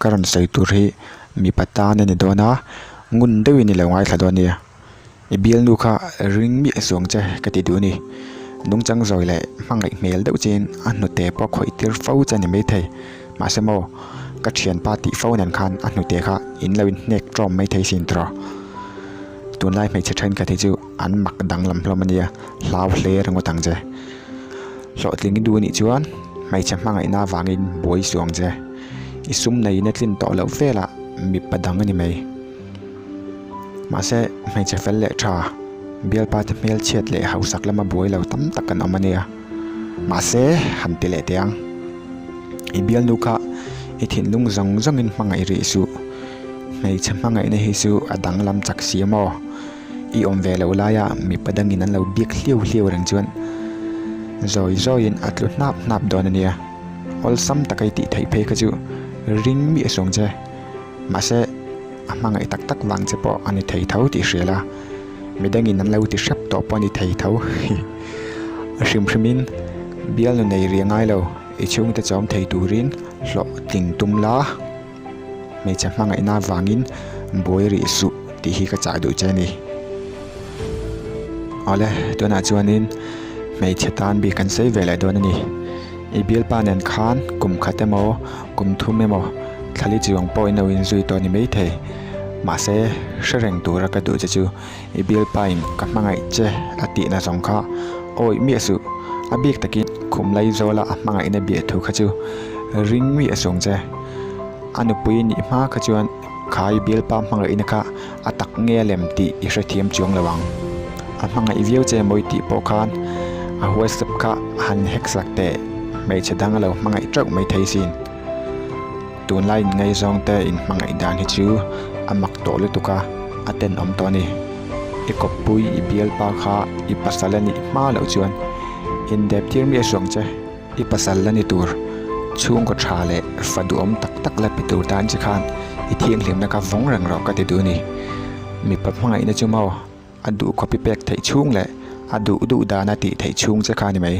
Ka rawn sawi tur hi mipa tan a ni dawn a, ngun deuhin i lo ngaithla dawn nia. I bialnu kha ring miah a chuang che ka ti duh a ni. Nungchang zawi leh hmangaih hmel deuh chin a hnute pawh khawih tir fo che a ni mai thei. Mahse maw, ka thianpa tih fo nen khan a hnute kha in lo inhnek tawm mai thei sin tawh. Tunlai hmeichhe thenkhat hi chu. an mak danglam hlawm ania hlau hle ringawt ang che hlawhtling i du anih chuan hmeichhe hmangaihna avangin buai suh ang che i sum neiin a tlin tawh loh vela mipa dang ani mai mahse hmeichhe fel leh tha bialpa te hmelchhiat leh hausak lama buai lo tam tak kan awm ania mahse han ti leh teh ang i bialnu kha i thinlung zawng zawngin hmangaih rih suh hmeichhe hmangaihna hi chu a danglam chak si emaw. I awm ve lo laia mipa dangin an lo biak hliau hliau reng chuan zawi zawiin a tlu hnap hnap dawn a nia. Awlsam taka i tih theih phei kha chu ring miah sawng che. Mahse, a hmangaih tak tak vang che pawh a ni thei tho tih hrial a, mi dangin an lo ti hrep tawh pawh a ni thei tho. A hrim hrimin, Bialnu nei ria ngai lo, i chhungte chawm thei turin hlawhtling tum la. hmeichhe hmangaihna avangin buai rih suh tih hi ka chah duh che a ni. Awle, tunah chuanin hmeichhe tan bik kan sei ve leh dawn a ni. I bialpa nen khan kum khat emaw, kum thum emaw thlali chi awng pawhin lo inzui tawh a ni maithei. Mahse, hre reng tura ka duh che chu. I Bialpain ka hmangaih che a tihna zawng kha awih miah suh. A bik takin khum lei zawla a hmangaihna bia thu kha chu ring miah sung che. A nupui a nih hma kha chuan khai Bialpa hmangaihna kha a tak nge lem tih i hrethiam chuang lo ang. A hmangaih viau che mawi tih pawh khan a huaisap kha a han heksak teh. Hmeichhe dang a lo hmangaih teuh mai thei sin. Tunlai in ngaizawng te in hmangaih dan hi chu a mak tawh lutuk a, a tenawm tawh a ni. I kawppui, i bialpa kha i pasal a nih hma loh chuan indep tir mi a hruang che. I pasal la ni tur, chhungkaw tha leh fa duhawm tak tak la pi tur tan che khan i thianghlimna ka vawng reng rawh ka ti duh a ni. Mipa hmangaihna chu maw? a duh copy pek theih chhung leh a duh duh dan a tih theih chhung che kha a ni mai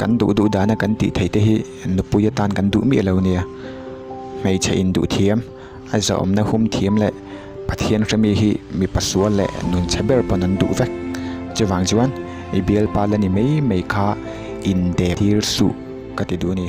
kan duh duh dan a kan tih theih te hi nupui atan kan duh miah lo a nia hmeichhe in duh thiam a zawmna hum thiam leh pathian hre mi hi mipa sual leh nun chhe ber pawn an duh vek chuvang chuan i bialpa la ni mai mai kha in dep thir suh ka ti duh a ni.